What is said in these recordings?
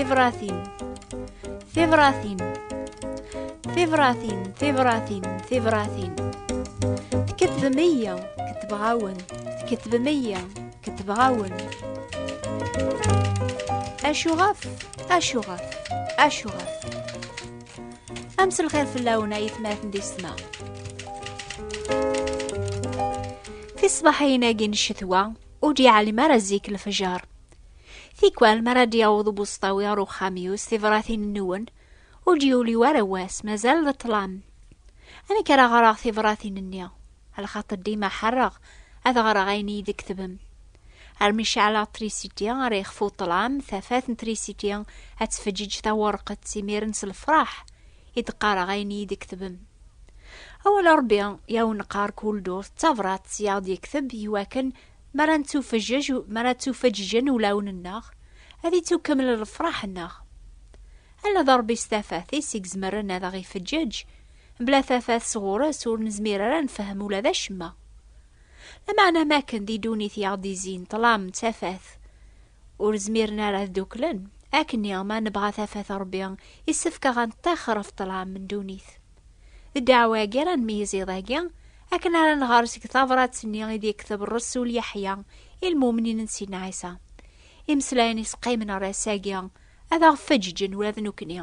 Tibratin Tibratin Tibratin Tibratin Tibratin Tkettbem iya Kettbeɣ-awen Tkettbem iya Kettbeɣ-awen Acuɣef Acuɣef Acuɣef Am s lxir fell-awen ay atmaten di ssma. Tisbaḥayin-agi n ccetwa ur d-yeɛlim ara zik lefjer. Tikwal mi ara d-yaweḍ ubuṣṭawi ar uxxam-iw s tibratin-nwen ur d-yuli ara wass mazal d ṭṭlam. Amek ara ɣreɣ tibratin-nni? Lxaṭ dima ḥerreɣ ad ɣreɣ ayen iyi-d-tketbem. Armi ceɛleɣ trisiti ara yexfu ṭṭlam, tafat n trisiti ad tfeǧǧiǧ tawerqet, imiren s lefraḥ i d-qqareɣ ayen i yi-d-iketbem. Awal n Rebbi i awen-neqqar kul ddurt d tabrat i aɣ-d-yekteb i wakken mi ara nettufeǧǧeǧ, mi ara ttufeǧǧiǧen ulawen-nneɣ, ad ittukkeml lefraḥ-nneɣ. Ala d Rebbi s tafat-is i izemren ad aɣ-ifeǧǧeǧ, mebla tafat sɣur-s ur nezmir ara ad nefhem ula d acemma. Lameɛna am akken di ddunit i aɣ-d-izzin ṭṭlam d tafat, ur zmiren ara ad dduklen, akkenni ma nebɣa tafat n Ṛebbi, issefk a ɣ-neṭṭixer ɣef ṭṭlam n ddunit. D ddeɛwa-agi ara nmeyyez iḍ-agi, akken ara nɣer seg tabṛat-nni i d-yekteb ṛṛsul Yeḥya i lmumnin n Sidna Ɛisa. Imeslayen i s-qqimen ɣer ass-agi, ad aɣ-feǧǧeǧen ula d nekkni.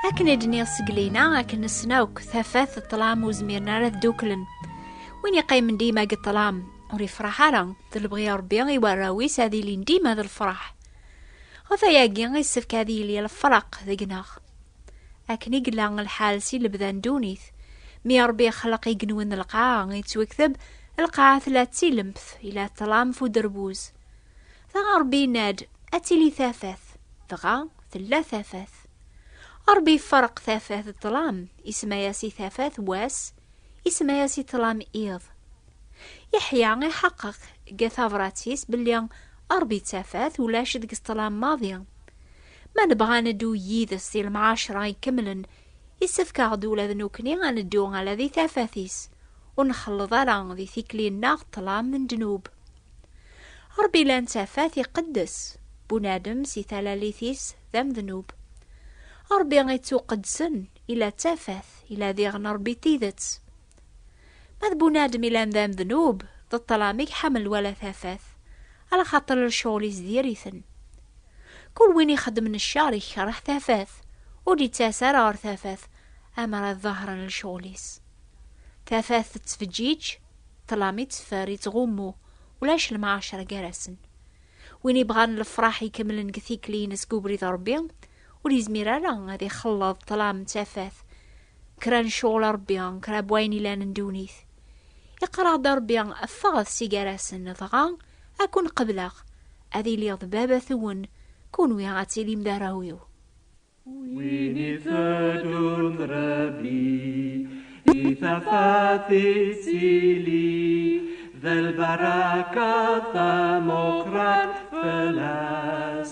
akken i d-nniɣ seg lina akken nessen akk tafat d ṭlam ur zmiren ara dduklen win yeqqimen dima deg ṭlam ur yefṛaḥ ara d lebɣi ṛebbi i warraw-is ad ilin dima d lefṛaḥ ɣef ayagi yessefk ad yili lefraq deg-neɣ Akken i yella lḥal si lebda n ddunit, mi Ṛebbi yexleq igenwi n lqaɛa, yettwekteb, lqaɛa tella d tilemt, yella ṭṭlam f uderbuz. Dɣa Ṛebbi yenna-d, Ad tili tafat. Dɣa tella tafat. Ṛebbi iferreq tafat d ṭṭlam, isemma-yas i tafat wass, isemma-yas i ṭṭlam iḍ. Yeḥya iḥeqqeq deg tabrat-is belli Ṛebbi d tafat, ulac deg-s ṭṭlam maḍi. Ma nebɣa ad neddu yid-s di lemɛaceṛa ikemlen, yessefk-aɣ-d ula d nekkni ad neddu ala di tafat-is, ur nxelleḍ ara di tikli-nneɣ ṭṭlam n ddnub. Ṛebbi lan tafat iqeddes, bunadem si talalit-is d amednub. Ṛebbi ittuqeddsen, ila tafat, ila diɣen Ṛebbi d tidet. Ma d bunadem ilan d amednub, d ṭṭlam i iḥamel wala tafat, ala xaṭer lecɣal-is diri-ten. Kul win ixeddmen cceṛ ikeṛṛeḥ tafat, ur d-ittas ara ɣer tafat amer ad ḍehṛen lecɣal-is. Tafat tettfeǧǧiǧ, ṭṭlam itteffer, ittɣummu, ulac lemɛaceṛ gar-asen. Win ibɣan lefṛaḥ ikemlen deg tikli-ines deg ubrid n Ṛebbi, ur yezmir ara ad ixelleḍ ṭṭlam d tafat, kra n ccɣel a Rebbi, kra n wayen ilan n ddunit. Iqerreɣ-d a Rebbi, ffɣet si gar-asen, dɣa ad ken-qebleɣ, ad iliɣ d baba-twen, kunwi ad tilim d arraw-iw. Win iteddun d Rebbi, i tafat yettili, d lbaraka tamuqrant fell-as,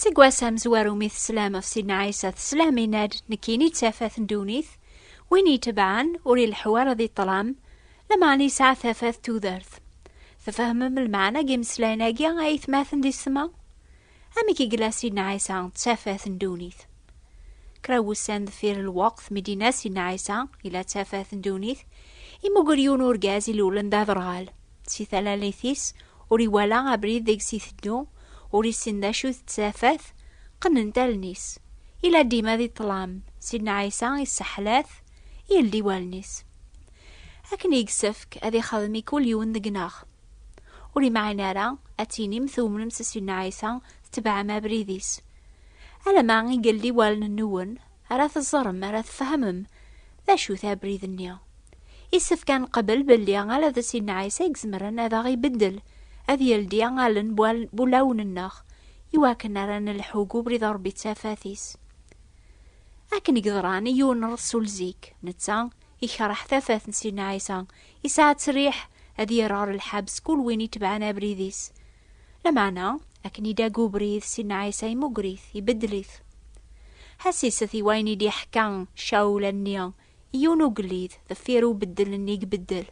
Seg wass amezwaru mi teslam ɣef Sidna Ɛisa teslam inad nekkini d tafat n ddunit, win yetebɛen ur ileḥḥu ara di ṭṭlam, lameɛna yesɛa tafat n tudert. Tfehmem lmeɛna n yimeslayen-agi ay aytmaten d yessetma? Amek i yella Sidna Ɛisa d tafat n ddunit? Kra n wussan deffir lweqt mi d-yenna Sidna Ɛisa yella d tafat n ddunit, yemmuger yiwen urgaz ilulen d aderɣal. Si talalit-is, ur iwala abrid deg-s iteddu, ur issin d acu d tafat, qennent allen-is. Ila dima di ṭṭlam, Sidna Ɛisa isseḥlat, yeldi wallen-is. Akken i yessefk ad ixdem i kul yiwen deg-neɣ. Ur imɛin ara ad tinim tumnem s Sidna Ɛisa, tetbeɛem abrid-is. Alama i yeldi wallen-nwen, ara teẓrem ara tfehmem d acu-t abrid-nni. Isefk ad neqbel belli ala d Sidna Ɛisa i izemren ad aɣ-ibeddel, ad yeldi allen bu ulawen-nneɣ, iwakken ara nelḥu deg ubrid n Ṛebbi d tafat-is. Akken i yeḍran i yiwen n ṛṛesul zik, netta ikṛeh tafat n Sidna Ɛisa, Yesɛa ttṛiḥ ad yerr ɣer lḥebs kul win itebɛen abrid-is. Lameɛna, akken i d-aga ubrid, Sidna Ɛisa imugger-it, ibeddel-it. Ḥesset i wayen i d-iḥka Cawul anni i yiwen n ugellid deffir ubeddel-nni i ibeddel.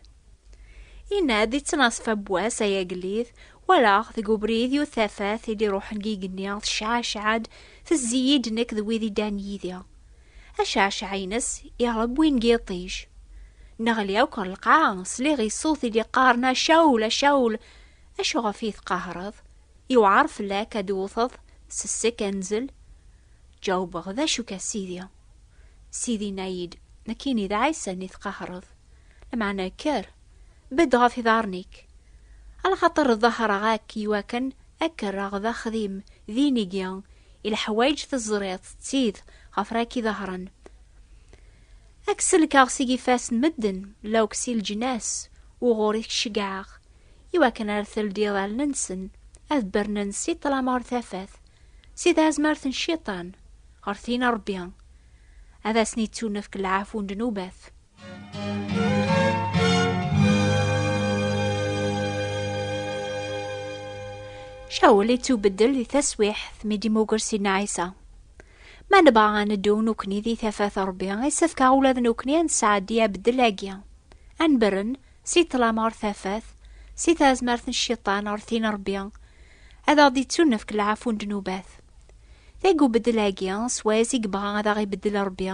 Yenna-d i ttnaṣfa n wass, Ay agellid, walaɣ deg ubrid yiwet tafat i d-iṛuḥen deg yigenni, tecɛacɛa-d, tezzi-yi-d nekk d wid i ddan yid-i. Acɛecɛa-ines iɣleb win n yiṭij. Neɣli akk ɣer lqaɛa, sliɣ i ṣṣut i d-iqqaren a Cawul, a Cawul, acu ɣef i yi-teqahreḍ? Yewɛer fell-ak ad d-twwteḍ s ssek anzel? Ǧawbeɣ, D acu-k a Sidi? Sidi yenna-yi-d, Nekkini d Ɛisa-nni i tqahreḍ, lameɛna kker! Bedd ɣef iḍarren-ik. Alxaṭer ḍahreɣ-ak iwakken ad k-rreɣ d axdim dinigi i leḥwayeǧ teẓriḍ d tid ɣef ra k-iḍahren. Ad k-sellkeɣ seg ifassen medden lawk si leǧnas uɣur i k-ceggɛeɣ iwakken ar teldiḍ allen-nsen ad bernen si ṭṭlam ɣer tafat, si tazmert n cciṭan ɣer tin n Ṛebbi. Ad asen-ittunefk lɛafu n ddnubat. Cawl ittubeddel di taswiḥt mi d-immuger Sidna Ɛisa. Ma nebɣa ad neddu nekkni di tafat Ṛebbi, yessefk ula d nekkni ad nesɛeddi abeddel-agi. Ad nberren si ṭṭlam ɣer tafat, si tazmert n cciṭan ɣer tin n Ṛebbi, ad aɣ-d-ittunefk lɛafu n ddnubat. Deg ubeddel-agi, s wayes i yebɣa ad aɣ-ibeddel Ṛebbi,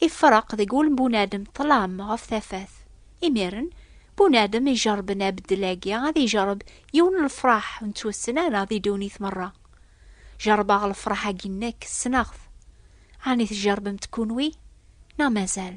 Ifreq deg wul n bunadem ṭṭlam ɣef tafat. Imiren, bunadem ijerrben abeddel-agi ad ijerreb yiwen n lefraḥ ur nettwassen ara di ddunit merra. Jerrbeɣ lefraḥ-agi nekk, ssneɣ-t. Ɛni tjerrbemt kunwi? Neɣ mazal?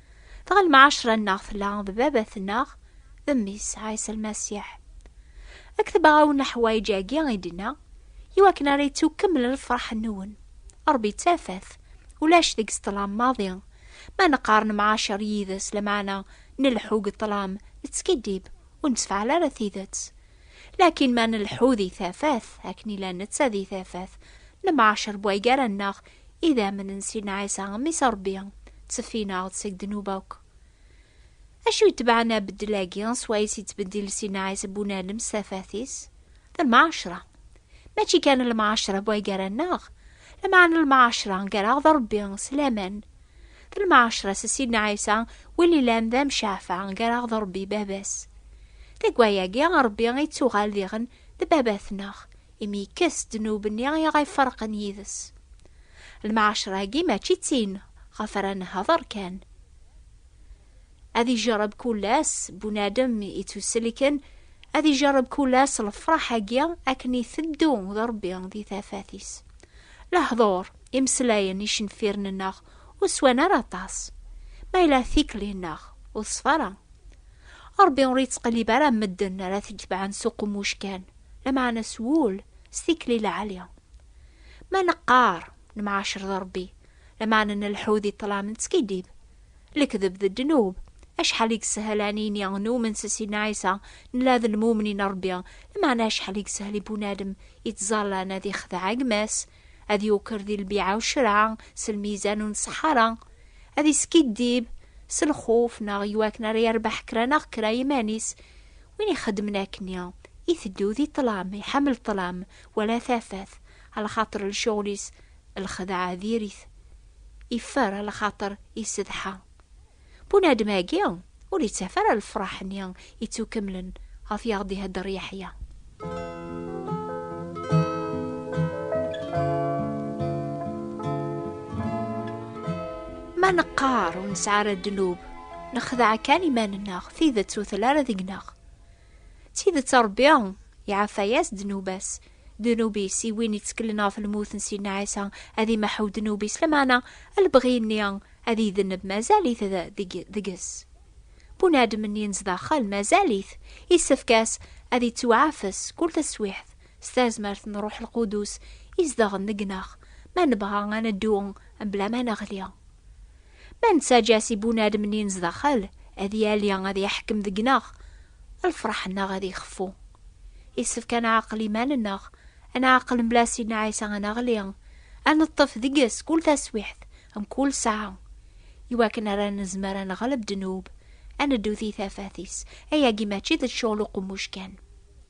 Dɣa lmɛacra-nneɣ tella d baba-tneɣ d mmi-s, Ɛisa Lmasiḥ. Ad k-tebɣaw neḥwayeǧ-agi i d-inna, i wakken ara yettukkemmel lfeṛḥ-nwen. Ṛebbi d tafat, ulac deg-s ṭṭlam maḍi. Ma neqqar nemɛacer yid-s, lameɛna nleḥḥu deg ṭṭlam, nettskiddib, ur nettefɛal ara tidet. Lakin ma nleḥḥu di tafat, akken yella netta di tafat, nemɛacer bwaygar-nneɣ Idammen n Sidna Ɛisa, mmi-s n Ṛebbi, tteffin-aɣ-d seg ddnub akk. Acu itebɛen abeddel-agi swayes yettbeddil Sidna Ɛisa Bunalem s tafat-is? D lmɛacra. Mačči kan lmɛacra n way gar-aneɣ, lameɛna lmɛacra gar-aɣ d Ṛebbi s laman. D lmɛacra s Sidna Ɛisa, win yellan d amceɛfa gar-aɣ d Ṛebbi Baba-s. Deg waya-agi, Ṛebbi ittuɣal diɣen d Baba-tneɣ, imi yekkes ddnub-nni i aɣ-iferqen yid-s. Lmeɛcra-agi mačči d tin ɣef ara nehder kan. Ad ijerreb kul ass bunadem ittuselken, ad ijerreb kul ass lefraḥ-agi akken iteddu d Rebbi di tafat-is. Lehdur, imeslayen, icenfiren-nneɣ ur swan ara aṭas, ma yella tikli-nneɣ ur teṣfa ara. Rebbi ur ittqellib ara medden ara t-itebɛen s uqemmuc kan. لمعنى s wul s tikli lɛali. Ma neqqar nemɛacer d Ṛebbi, lmeɛna nleḥḥu di ṭṭlam nettskiddib. Lekdeb d ddnub. Acḥal i yessehel a nini numen s Sidna Ɛisa, nella d lmumnin n Ṛebbi, lmeɛna acḥal i yessehel i bunadem yettẓallan ad ixdeɛ gma-s, ad yuker di lbiɛa u ccreɛ s lmizan ur nṣeḥḥa ara, ad iskiddib s lxuf neɣ i wakken ara yerbeḥ kra neɣ kra i yiman-is. Win ixeddmen akkenni, iteddu di ṭṭlam, iḥemmel ṭṭlam, wala tafat, alaxaṭer lcuɣel-is lxedɛa diri-t, iffer alaxaṭer isedḥa. Bunadem-agi ur ittaf ara lefraḥ-nni ittukemlen ɣef i aɣ-d-ihedder Yeḥya. Ma neqqar ur nesɛi ara ddnub, nexdeɛ kan iman-nneɣ, tidet ur telli ara deg-neɣ. D tidet Ṛebbi iɛaffa-yas ddnub-as. Ddnub-is i win itteklen ɣef lmut n Sidna Ɛisa ad imeḥḥu ddnub-is, lameɛna lebɣi-nni ad idenneb mazal-it deg-s. Bunadem-nni n zdaxel mazal-it, issefk-as ad ittuɛafes kul taswiɛt s tazmert n Ṛuḥ Lqudus izedɣen deg-neɣ, ma nebɣa ad neddu mebla ma neɣli. Ma nettaǧǧa-as i bunadem-nni n zdaxel ad yali, ad iḥkem deg-neɣ, lfeṛḥ-nneɣ ad ixeffu. Yessefk ad nɛaqel iman-nneɣ, ad nɛaqel mebla Sidna Ɛisa Aneɣli, ad neṭṭef deg-s kul taswiḥt, mkul ssaɛa, iwakken ara nezmer ad neɣleb ddnub, ad neddu di tafat-is. Ayagi mačči d ccɣel uqemmuc kan.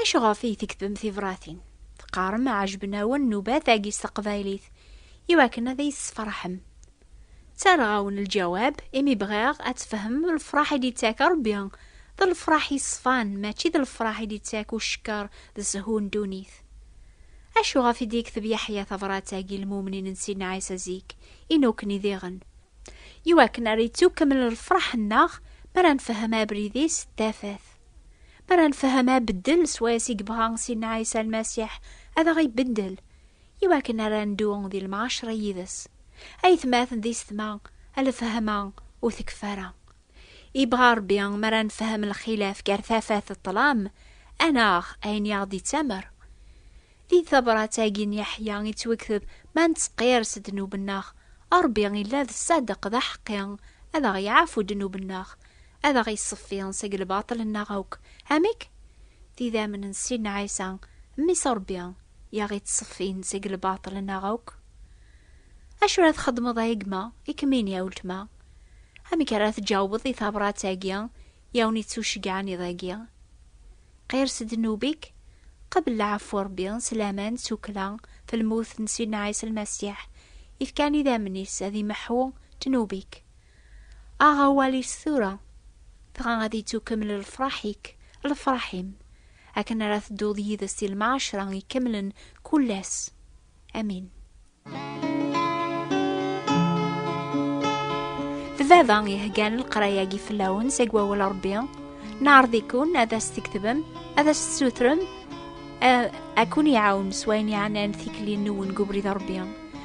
Acu ɣef ay tekdem tibṛatin? Teqqarem ɛejben-awen nnubat-agi s teqbaylit i wakken ad iyi-tessefṛeḥem. Ttarraɣ-awen lǧawab imi bɣiɣ ad tfehmem lefṛaḥ i d-yettak Ṛebbi d lefṛaḥ yeṣfan mačči d lefṛaḥ i d-yettak ucekker d shu n ddunit. Acu ɣef i d-yekteb Yeḥya tabṛat-agi i lmumnin n Sidna Ɛisa zik i nukni diɣen? I wakken ara yettu kemmel lefṛaḥ-nneɣ mi ara nfehhem abrid-is d tafat. Mi ara nfehhem abeddel swayes i yebɣa Sidna Ɛisa Lmasiḥ ad aɣ-ibeddel i wakken ara neddu di lemɛacra yid-s, ayetmaten d isetma, lfehma ur tekfi ara. Yebɣa Ṛebbi mi ara nfehhem lxilaf gar tafat d ṭṭlam, ad naɣ ayen i aɣ-d-yettamer. Di tabṛat-agi n Yeḥya yettwekteb ma nettqir s ddnub-nneɣ, Ṛebbi illa d ṣṣadeq d aḥeqqi ad aɣ-iɛfu ddnub-nneɣ Ad aɣ-iṣeffi seg lbaṭel-nneɣ akk. Amek? Tidamn n Sidna Ɛisa, Mmi-s n Ṛebbi, i aɣ-iţṣeffin seg lbaṭel-nneɣ akk. Acu ara txedmeḍ a gma, i kem-ini a weltma? Amek ara tǧawbeḍ i tabrat-agi i awen-iţuceggɛen iḍ-agi? Qir s ddnub-ik, qebl lɛeffu n Ṛebbi s laman tukkla f lmut n Sidna Ɛisa Lmasiḥ, i fkan idammen-is ad imeḥḥu ddnub-ik. Aɣ awal-is tura, dɣa ad ittukemmel lefraḥ-ik, lefraḥ-im, akken ara tedduḍ yid-s i lmɛacra ikemlen kull ass. Amin. D baba iheggan leqraya-agi fell-awen seg wawal Rebbi. Neɛreḍ-ikun ad as-tkettbem, ad as-tessutrem, ad kun-iɛawen s wayen yeɛnan tikli-nwen deg ubrid Rebbi.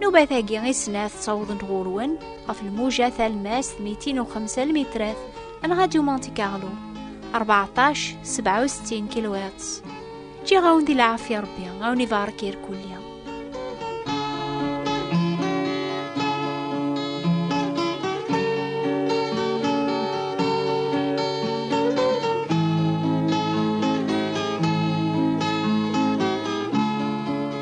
Nubat agi i snat ttawḍent ɣur-wen ɣef lmuja talmast 205 almitrat n Radyu Monte Carlo 14 67 kilowatts. Ǧǧiɣ-awen di lɛafya Rebbi, awen ibarek irkulli.